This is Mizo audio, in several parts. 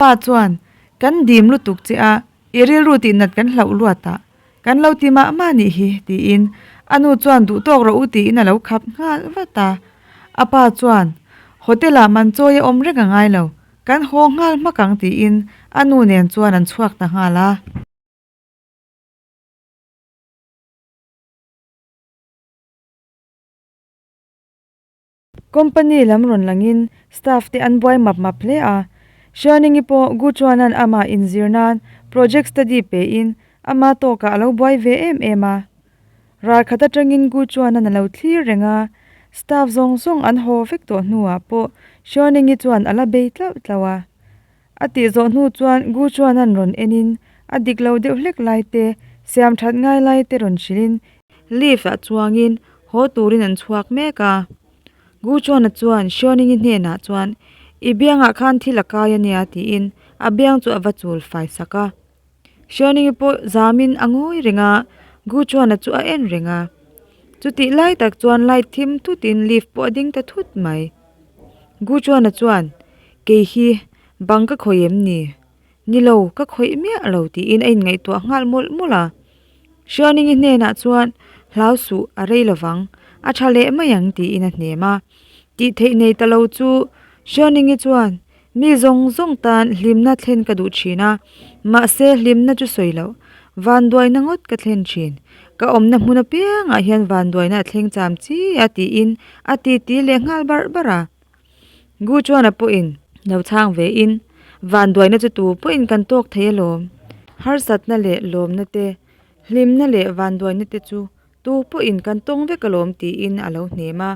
Pa chuan, Kan dim lutuk che a, i rilru tih nat kan hlauh luat a, kan lo ti mah mah nih hi, tiin a nu chuan duh tawk rawh u tiin a lo khap nghal vat a. A pa chuan, Hotel ah man chawi a awm reng a ngai lo, kan haw nghal hmak ang tiin a nu nen chuan an chhuak ta nghal a. Company lam rawn langin staff te an buai map map hle a. Shianingi pawh Gu Chuanan amah inzir nan project study pehin ama tawkah a lo buai ve em em a. Ralkhat atangin Gu Chuanan a lo thlir reng a, staff zawng zawng an haw vek tawh hnuah pawh Shianingi chuan a la bei tlauh tlauh a. A tih zawh hnu chuan Gu Chuanan rawn enin a dik lo deuh hlek lai te, siam that ngai lai te rawn hrilhin, lift ah chuangin haw turin an chhuak mek a, Gu Chuana chuan Hriawningin hnenah chuan, I biangah khan thil a kai a nia tiin a biang chu a va chul fai sak a, Hrianinge pawh zamin a ngawi reng a, Gu chuan chu a en reng a. Chutih lai tak chuan light thim thut in lift pawh a ding ta thut mai. Gu chuan chuan, Kei hi bang ka khawih em ni? Ni lo, ka khawih miah lo tiin a inngaihtuah nghal mawlh mawlh a. Hrianinge hnenah chuan hlau suh a rei lo vang, a tha leh mai ang tiin a hnem a. Tih theih nei ta lo chu Hrianinge chuan Mi zawng zawng tan hlimna thlen ka duh thin a, mahse hlimna chu sawi loh, vanduaina ngawt ka thlen thin. Ka awmna hmun apiangah hian vanduaina a thleng cham chi a tiin a titi leh nghal bar bar a. Guchuana pawhin lo chhang ve in, vanduaina chu tu pawhin kan tawk thei alawm. Harsatna leh lawmna te, hlimna leh vanduaina te chu tu pawhin kan tawng vek alawm tiin a lo hnem a.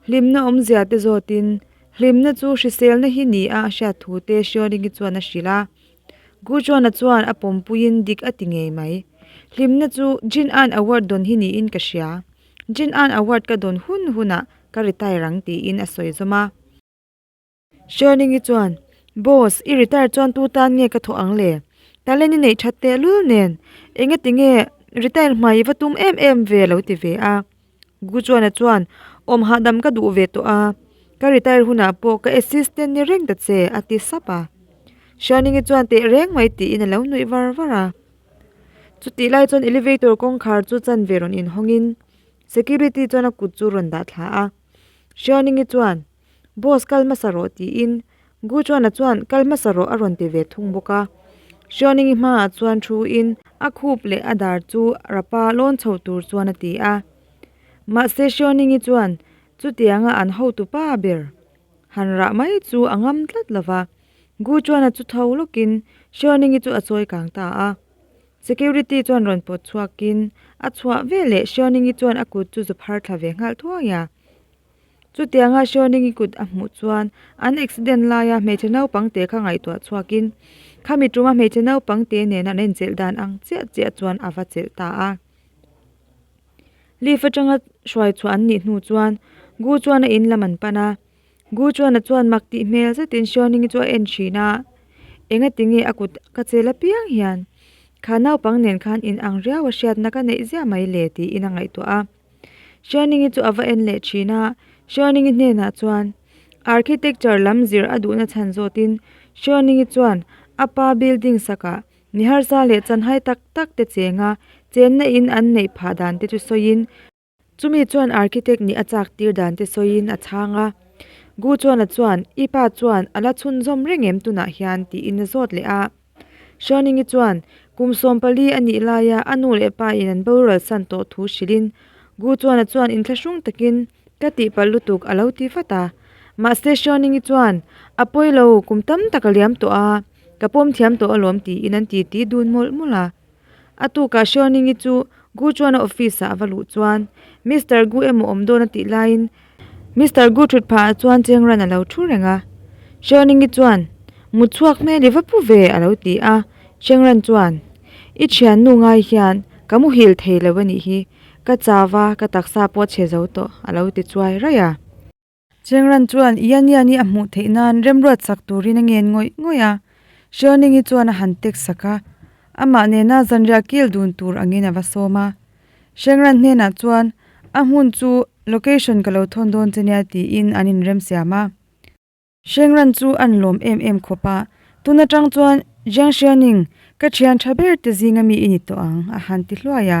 Hlimna awmzia te zawtin, hlimna chu hriselna hi ni a, a hriat thu te Shioringi chuan a hrilh a. Gujuana chuan a pawmpuiin dik a ti ngei mai. Hlimna chu Jin-a'n award dawn hi niin ka hria. Jin-a'n award ka dawn hun hunah ka retire ang tiin a sawi zawm a. Sherling-i chuan, Boss, i retire chuan tu tan nge ka thawh ang le? Talen i neih that teh lul nen, Enge tinge retire hmai i va tum em em ve? a lo ti ve a. Guchuana chuan, Awm hahdam ka duh ve tawh a, ka retire hunah pawh ka assistant ni reng ta che, a ti sap a. Sherling-i chuan teh reng mai tiin a lo nuih var var a. Chutih lai chuan elevator kawngkhar chu chan ve rawn inhawngin security chuan a kut chu a rawn dah thla a. Sherling-i chuan, Boss kal hmasa rawh tiin Guchuana chuan kal hmasa rawh a rawn ti ve thung bawk a, Hriaoningi hmaah chuan thu in a khup leh a dar chu Rapa lawn chho tur chuan a ti a, mahse Hriaoningi chuan chutianga an hotu pa ber han rah mai chu a ngam tlat lo va, Guchuana chu tho lawkin Hriaoningi chu a chawi kang ta a, Security chuan rawn pawt chhuakin a chhuah veleh Hriaoningi chuan a kut chu zu phar thla ve nghalh thuai a. Chutianga Hruaining-i kut a hmuh chuan an accident laia hmeichhe naupang te kha ngaihtuah chhuakin khami tuma hmeichhe naupang te nen an enchelh dan ang chiah chiah chuan a va chelh ta a. Leaf atanga hruai chhuah an nih hnu chuan Gu chuan a in lam an pan a. Gu chuan a chuan mak tih hmel zetin Hruaining-i chu a en thin a, Engatinge a kut ka chel apiang hian kha naupang nen khan inang riau a hriatna ka neih zia mai le tiin a ngaihtuah a. Hrianingi chu a va en leh thin a, Hrianingi hnenah chuan architecture lam zir a duhna chhan zawtin Hrianingi chuan a pa building sakah niharsa leh chanhai tak tak te chenga chenna in an neih phah dan te chu sawiin chumi chuan architect nih a chak tir dan te sawiin a chhang a. Gu chuan a chuan, I pa chuan a la chhunzawm reng em tunah hian tiin a zawt leh a. Hruaningi chuan kum sawm pali a nih laia a nu leh pa in an borual san tawh thu hrilhin, Gu Chuana chuan in thla hrung takin ka tihpalh lutuk a lo ti fat a. Mahse Hruaningi chuan, A pawi lo, kum tam tak a liam tawh a, ka pawm thiam tawh alawm tiin an titi dun mawlh mawlh a. A tukah Hriaoningi chu Gu Chuana office ah a va luh chuan Mister Gu emaw awm dawn a tih laiin Mister Gu thut phah ah chuan cheng ran a lo thu reng a. Hriaoningi chuan Mut chhuak hmel i va pu ve a lo ti a. Cheng ran chuan I thiannu ngai hian ka mu hil thei lo a nih hi, ka chava ka taksa pawh a che zo tawh a lo ti chuai raih a. Chengran chuan i ania ni a hmuh theih nan remruat sak turin a ngen ngawih ngawih a. Hrianingi chuan a han tek sak a, amah nena zanriah kil dun tur angin a va sawm a. Hrengran hnenah chuan, A hmun chu location ka lo thawn dawn che nia tiin an inremsiam a. Hrengran chu an lawm em em khawp a. Tun atang chuan, Jiang Hrianing, ka thian tha ber te zinga mi i ni tawh ang, a han ti hluai a.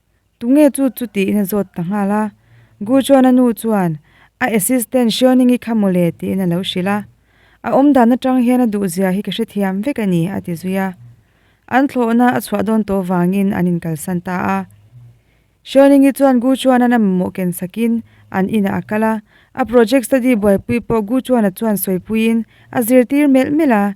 Tunge chu chuti in a zawt ta nghal a? Guchuana nu chuan a assistant Xiaoning i kha mawle tiin a lo hrilh a. A awmdan atang hian a duhzia hi ka hrethiam vek a ni a ti zui a. An thlawhna a chhuah dawn tawh vangin an inkalsan ta a. Xiaoning hi chuan Guchuana na mamawh ken sakin an inah a kal a. A project study buaipui pawh Guchuana chuan sawipuiin a zirtir melh melh a.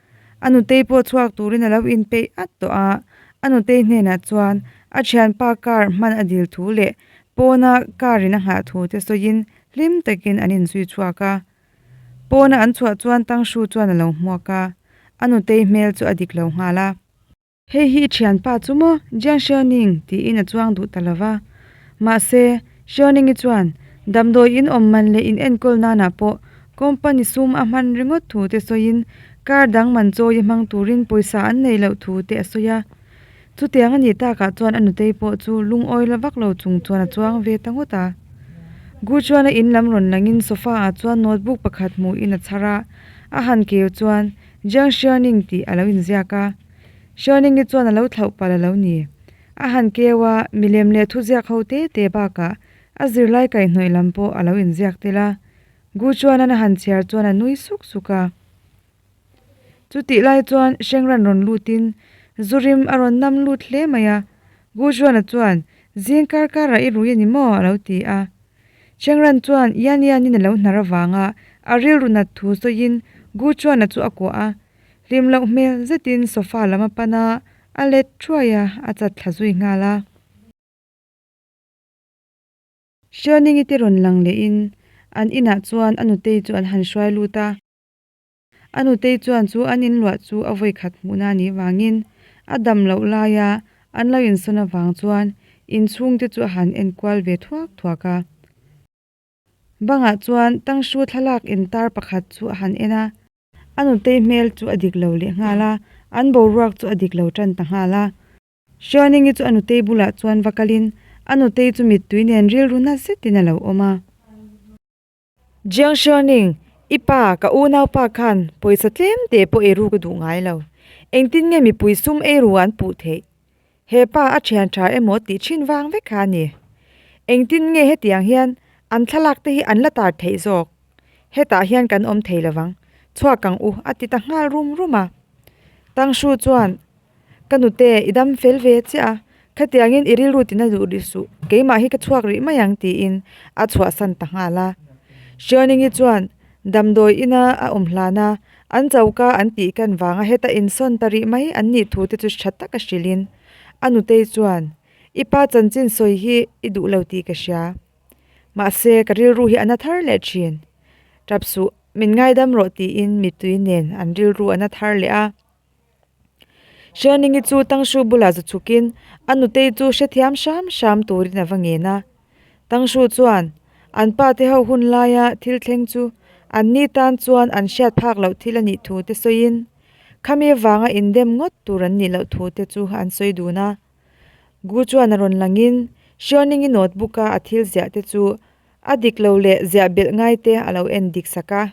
A nutei pawh chhuak turin a lo inpeih at tawh a, a nutei hnenah chuan a thianpa car hman a dil thu leh pawna car in a nghah thu te sawiin hlim takin an inzui chhuak a. Pawna an chhuah chuan Tangshu chuan a lo hmuak a, a nutei hmel chu a dik lo nghal a. Hei hi i thianpa chu maw? Jianxiao Ning tiin a chuang duh ta lo va. Mahse, Xiao Ningi chuan damdawi in awm man leh in enkawl nana pawh company sum a hman ringawt thu te sawiin car dang man chawi a hmang turin pawisa an nei loh thu te a sawi a. Chutiang a nih takah chuan a nutei pawh chu lungawi la vak lo chung chuan a chuang ve ta ngawt a. Gu Chuana in lam rawn langin sofa ah chuan notebook pakhat hmuhin a chhar a, a han keu chuan Jiang Xuening tih a lo inziak a, Xuening hi chuan a lo thlauh palh a lo ni. A han keu a, milem leh thuziak ho te te bakah a zirlai kaihhnawih lam pawh a lo inziak tel a, Gu Chuanan a han chhiar chuan a nui suk suk a. Chutih lai chuan Shengran rawn lutin zu rim a rawn nam lut hle mai a, Gu Chuana chuan, Zing kar karah i rui a ni maw? a lo ti a. Chengran chuan ian ianin a lo hnar avanga a rilru nat thu sawiin Gu Chuana chu a kuah a, hlim loh hmel zetin sofa lam a pan a, a let thuai a, a chat thla zui nghal a. Hrianingi te rawn lang lehin an inah chuan a nutei chu an han hruai lut a. A nutei chuan chu an inluah chu a vawikhat hmuhna a nih vangin a dam loh laia an lo insawn avang chuan inchhungte chu a han enkual ve thuak thuak a. Bangah chuan Tangshu thlalak intar pakhat chu a han en a. A nutei hmel chu a dik lo leh nghal a, an boruak chu a dik lo tan ta nghal a. Hrianingi chu a nutei bulah chuan va kalin a nutei chu mittui nen rilru nasa zetin a lo awm a. Jiang Xuanning, I pa, ka unaupa khan pawisa tlem te pawh ei ru ka duh ngai lo. Engtin nge mipui sum ei ru an puh theih? He pa a thian tha emaw tih thin vang vek kha a ni. Engtin nge hetiang hian an thlalak te hi an la tar theih zawk? Hetah hian kan awm thei lovang, chhuak kang u, a ti ta nghal rum rum a. Tang Hru chuan Ka nute, i dam fel ve chiah a, khatiangin i rilru tina duh rih suh, keimah hi ka chhuak rih mai ang tiin a chhuahsan ta nghal a. Hrianingi chuan damdawi ina a awm hlan a, an choka an tih kan vanga heta insawn ta rih mai an nih thute chu ṭha taka hrilhin a nutei chuan, I pa chanchin sawi hi i duh lo tih ka hria. Mahse, ka rilru hi a na thar leh ṭhin. Ṭap suh, min ngaidam rawh tiin mitui nen an rilru a na thar leh a. Hrianingi chu Tangshu bulah za chhukin a nutei chu hrethiam hram hram turin a va ngen a. Tangshu chuan an pa te ho hun laia thil thleng chu anni tan chuan an hriat phak loh thil a nih thu te sawiin, khami avanga indem ngawt tur an nih loh thu te chu an sawi dun a. Gu chuan a rawn langin Hrianingi notebook-a a thil ziah te chu a dik lo leh ziah belh ngai te a lo en dik sak a.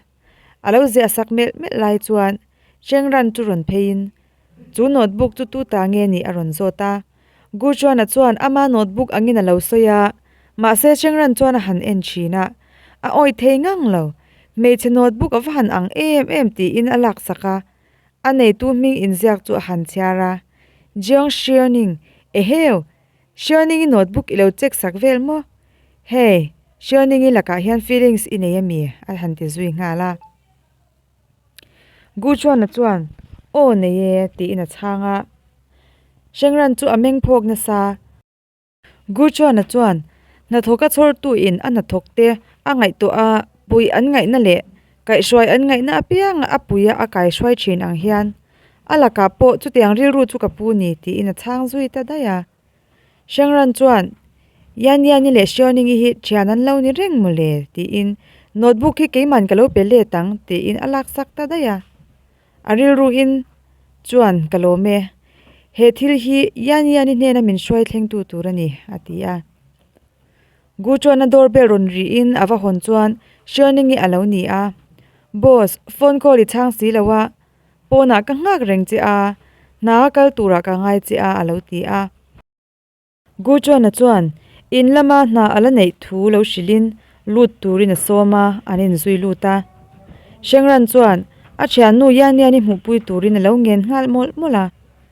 A lo ziah sak melh melh lai chuan Chengran chu rawn pheiin, Chu notebook chu tuta nge ni? a rawn zawt a. Guchuana chuan ama notebook angin a lo sawi a, mahse Chengran chuan a han en thin a, a awih thei ngang lo. Hmeichhe notebook a va han ang em em tiin a lak sak a, a neitu hming inziak chu a han chhiar a, Jiang Shianing, Eheu! Hrianing i notebook i lo check sak vel maw? Hey, Hrianing i lakah hian feelings i nei a mi? a han ti zui nghal a. Gu Chuana chuan, Aw nei e, tiin a chhang a. Hrengran chu a meng phawk nasa. Gu Chuana chuan, Hnathawk a chhawrtu in a hnathawk te a ngaihtuah a pui an ngaihna leh kaihhruai an ngaihna apianga a puia a kaihhruai thin ang hian, A lakah pawh chutiang rilru chu ka pu ni, tiin a chhang zui ta daih a. Shengran chuan, Yan Yanni leh Xiaoningi hi thian an lo ni reng maw le? tiin, Notebook hi keiman ka lo pe let ang, tiin a lak sak ta daih a. A rilru in chuan ka lawm e, he thil hi Yan Yanni hnena min hruai thlengtu tur a ni, a ti a. Gu Chuana door bell rawn rih in a va hawn chuan Xiaoningi a lo ni a, Boss, phone call i chhang si lo a. Pawnah ka nghak reng che a, hna a kal turah ka ngai che a, a lo ti a. Gu Chuana chuan in lama hna a la neih thu lo hrilhin lut turin a sawm a, an inzui lut a. Hrengran chuan a thiannu Yaniani hmuhpui turin a lo ngen nghal mawlh mawlh a.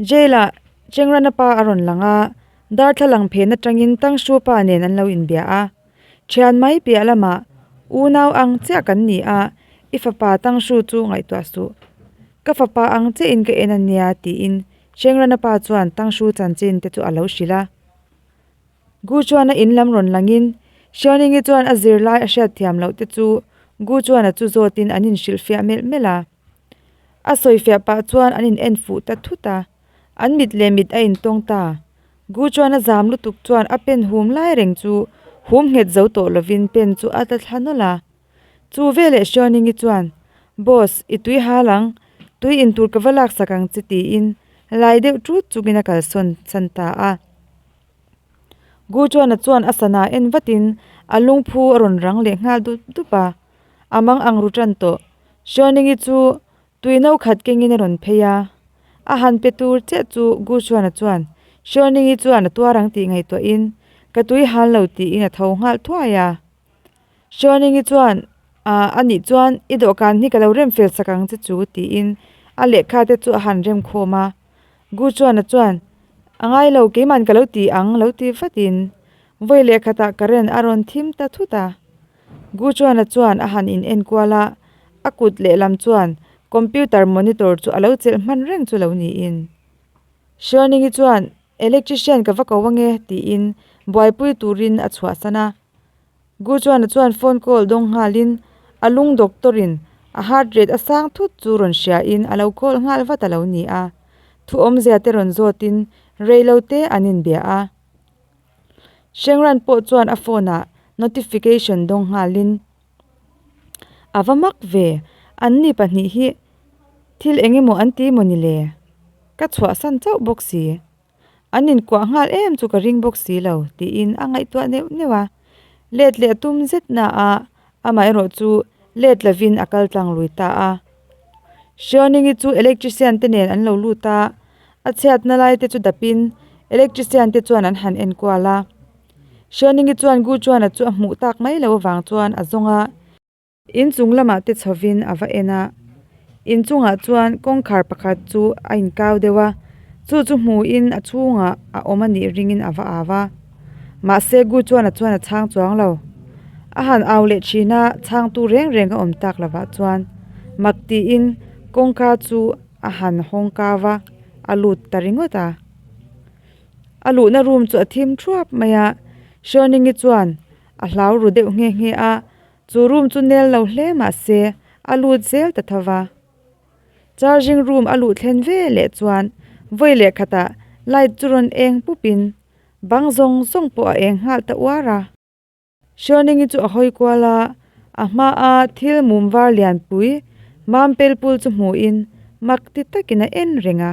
Jail-ah Chengrana pa a rawn lang a, darthlalang phen atangin Tangshu pa nen an lo inbia a. Thian mai piah lamah unau ang chiah kan ni a, i fapa Tangshu chu ngaihtuah suh. Ka fapa ang chiahin ka en a nia, tiin Chengrana pa chuan Tangshu chanchin te chu a lo hrilh a. Gu chuan a in lam rawn langin Hrianingi chuan a zir lai a hriat thiam loh te chu Gu chuan a chu zawtin an inhrilh fiah melh melh a. A sawi fiah pah chuan an in en fuh ta thut a, an mit leh mit a in tawng ta. Gu chuan a zam lutuk chuan a pen hum lai reng chu hum nghet zo tawh lovin pen chu a tla thla nawlh a. Chu veleh Hriaoningi chuan, Boss, i tui hal ang, tui in tur ka va laksak ang che tiin lai deuh ṭut chukin a kalsawn chhan ta a. Guchuana chuan a sana en vatin a lungphu a rawn rang leh nghal dup dup a, a mang ang ru tan tawh. Hruainingi chu tui no khat kengin a rawn phei a, a han pe tur chiah chu Guchuana chuan Hruainingi chuan a tuar ang tih ngaihtuahin ka tui han lo tiin a tho nghal thuai a. Chuaningi chuan ah a nih chuan i dawhkan hi ka lo rem fel sak ang che chu tiin a lehkha te chu a han rem khawm a, Gu Chuana chuan a ngai lo keiman ka lo ti ang lo ti vatin vawi leh khatah ka ren a rawn thim ta thut a, Gu Chuana chuan a han in enkual a, a kut leh lam chuan computer monitor chu a lo chelh hman reng chu lo niin Chuaningi chuan electrician ka va ko ange tiin buaipui turin a chhuahsan a. Gu Chuana chuan phone call dawng nghalin a lung doctor in a heart rate a sang thut chu rawn hriain a lo call nghal vat a lo ni a, thuawmzia te rawn zawtin reilo te an inbia a. Hrengran pawh chuan a phone ah notification dawng nghalin a va mak ve, an ni pahnih hi thil eng emaw an ti maw ni le? Ka chhuahsan chauh bawk si. An inkuah nghal em chu ka ring bawk si lo, tiin a ngaihtuah neuh neuh a. Let leh tum zet naah amaherawh chu let lovin a kal tlang lui ta a. Hriawningyi chu electrician te nen an lo lut a, a chhiatna lai te chu dapin electrician te chuan an han enkual a. Hriawningyi chuan Gu Chuana chu a hmuh tak mai lo avang chuan a zawng a. Inchung lamah te chhovin a va en a, inchungah chuan kawngkhar pakhat chu a inkau deuh a, chu chu hmuhin a chhungah a awm a nih ringin a va au a. Mahse Gu chuanah chuan a chhang chuang lo. A han au leh thin a, chhangtu reng reng a awm tak lovah chuan mak tiin kawngka chu a han hawng kau a, a lut ta ringawt a. A luhna rum chu a thim thuap mai a, Hriawnengi chuan a hlau ru deuh nghe nghe a. Chu room chu nel lo hle mahse a lut zel ta tho va. Charging room a luh thlen ve leh chuan vawi leh khatah light chu rawn eng pup in bang zawng zawng pawh a eng nghal ta uar a. Hriawnengi chu a hawi kual a, a hma a thil mum var lianpui mam pel pul chu hmuh in mak ti tak in a en reng a.